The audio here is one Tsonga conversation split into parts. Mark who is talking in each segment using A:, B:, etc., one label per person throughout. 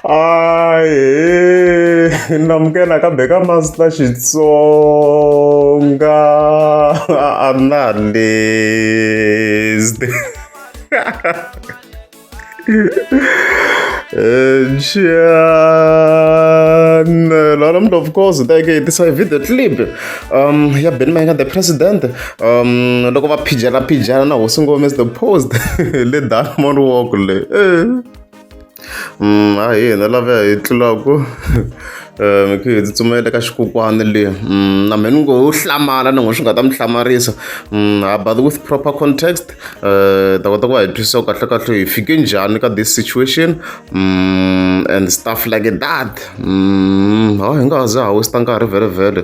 A: aye ndamukela kambe ka master xitsonga analyst Channel. And of course, they get this video clip um, ya Benny Mayengani, the president. um loko va phijana phijana na hosi ngome is the post le diamond walk le eh. mm, a hi hina lava hi tlulaku um eh, khe hi tsutsumela ka xikukwana le mm, na mheni ngo hlamala ni ngo swi nga ta mi hlamarisa mm, ha but with proper context um ta kota ku va hi twisisa ku kahle kahle hi fike njhani ka this situation and stuff like that ha hi nga ha za ha westa nkarhi vhele vhele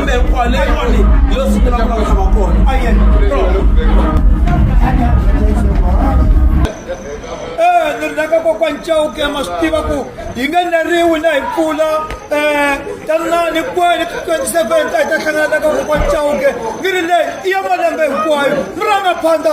B: kumbe hinkwawo leyi yoni yo sungula ku lava tshama kona Eh, ni ri na ka kokwa ncawuke ma swi tiva ku hi nge neriwi na hi mpfula um tanani kwene ti-twenty seven ta hi ta hlangana na ka kokwa ncawuke ni ri leyi i ya malembe hinkwayo mi ranga phanda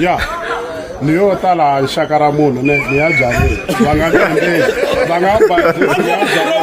C: ya ni yo ta laha rixaka ra munhu ni ni ya byaleni va nga kandzeni va nga ba ni ya byaleni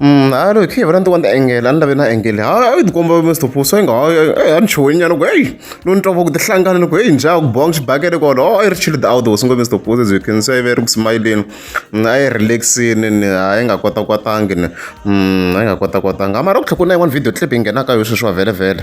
A: Mm, a loyi khe hi vona ni tiwa ni ta engela ni lave na engele ha a yi tikomba mr puso inga a ni chuhi nyana ku heyi lo ni twa va ku tihlangana ni ku heyi njha ku bong xibakele kona o a yi ri chile the outdoors ngo mr puso as you can see a yi ve ri ku smayileni mm, a yi relaxini ni a yi nga kota kwatangi ni mm, a yi nga kota kwatanga mara ku tlhe ku na yin'wana video clip yi nghenaka yo sweswiwa vhele vhele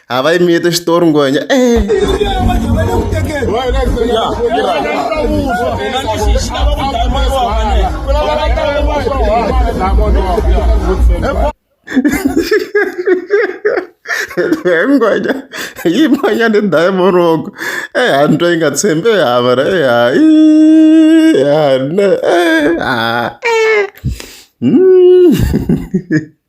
A: a va yimiyete xitori ngwenya e ngwenya yi manya ni diamond rogo e hani twa yi nga tshembi e hava ra e hayi e hani e ha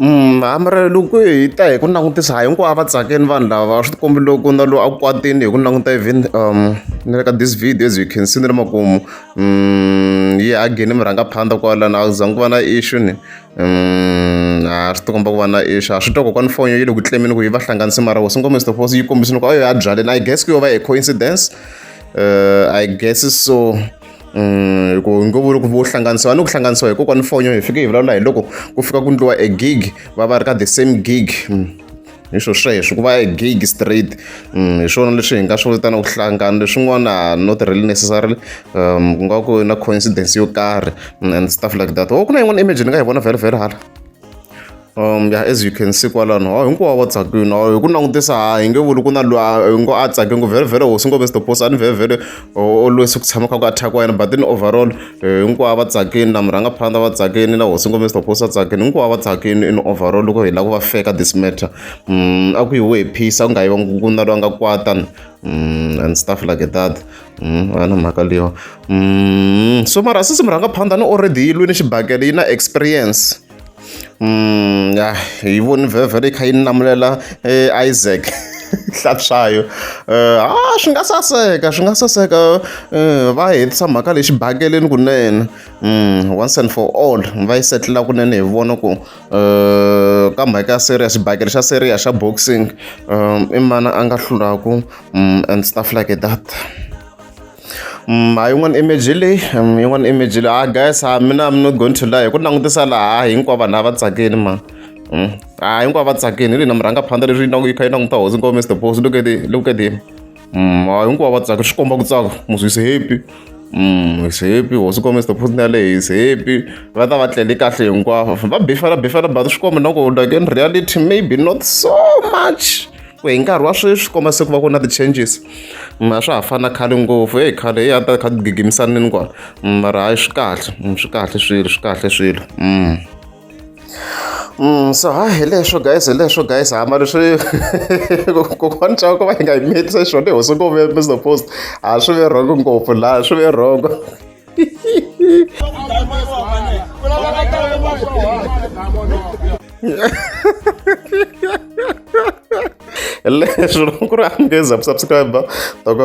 A: loko hi ta hi ku langutisa ha hinkwavo va tsakini vanhu lava swi ti kombi loko na loyi a kwatile hi ku languta even ni le ka this video as you can see ni ri makumu yi hagini mi rhanga phanda kwalani a ku zangi ku va na issue ni a swi tikomba ku va na issue a swi twa kokwana foni yo yi le ku tlemeni ku yi va hlanganisi mara wasi nkomiso to fosi yi kombisini ku a yo ya byaleni i guess ku yo va hi coincidence uh, i guess so hi ku ngo vula ku vo hlanganisiwa ni ku hlanganisiwa hi kokwani fonyo hi fike hi vulavula hi loko ku fika ku ndliwa e gig va va ri ka the same gig hi swo sweswo ku va e gig straight hi swona leswi hi nga swi vitana ku hlangana leswin'wana not really necessarily um ku nga ku na coincidence yo karhi and stuff like that o ku na yin'wana image ni nga yi vona vhele vhele hala Um as you can see kwalano hawu hinkwavo va tsakile hawu hi ku langutisa ha hi nge vuli ku na loyi hi ngo a tsake ngo vhele hosi ngo mister boss a ni vhele o lwesi ku tshama kha ku attack wa yena but in overall hinkwavo va tsakile na murhangaphandza va tsakile na hosi ngo mister boss a tsakile hinkwavo va tsakile in overall loko hi lava ku va feka this matter um a ku yiwe hi phisa ku nga yivangi ku na loyi a nga kwatana um and stuff like that Hmm, a na mhaka leyiwa hmm, so mara sisi mi rhanga phanda ni already yi lwini xibakele yi na experience um ya hi voni vhevhe leyi kha yi ni lamulela eh, isaac hlapshayo um eh, a ah, swi nga saseka swi nga saseka um va hetisa mhaka leyi xibakeleni kunene um once and for all va yi setlela kunene hi vona ku ka mhaka ya seria xibakele xa seria xa boxing i mani a nga hlulaku and stuff like that Mm, ha yin'wana image leyi mm, yin'wana image leyi ha ah, guys ha ah, mina i'm not going to lie ku langutisa laha ah, hinkwavo vanhu lava tsakini ma mm. ha hinkwavo va tsakini hi lina mi rhanga phanda leswi yi kha yi languta hosi nkovo mr boss look at look at him Mm, hayi hinkwavo va tsaka swi komba ku tsaka musi is happy mm, is happy hosi kombe the person yaleyo is happy va ta va tlele kahle hinkwavo va bifela bifela but swi komba na ku like in reality maybe not so much ku hi nkarhi wa sweswi swi komba se ku va ku na ti-changes ma swa ha fana khale ngopfu eyi khale yi a ta kha ti gigimisanini kwala mara hayi swi kahle swi kahle swilo swi kahle swilo mm. Mm, so ha hi leswo guys hi leswo guys hama leswi kokwani chava ku va hi nga hi miyetisa xona hi hosi ngopfu mr post a swi ve rhongo ngopfu laha swi ve rhongo leswi loko ku ri angheza ku subscribe toko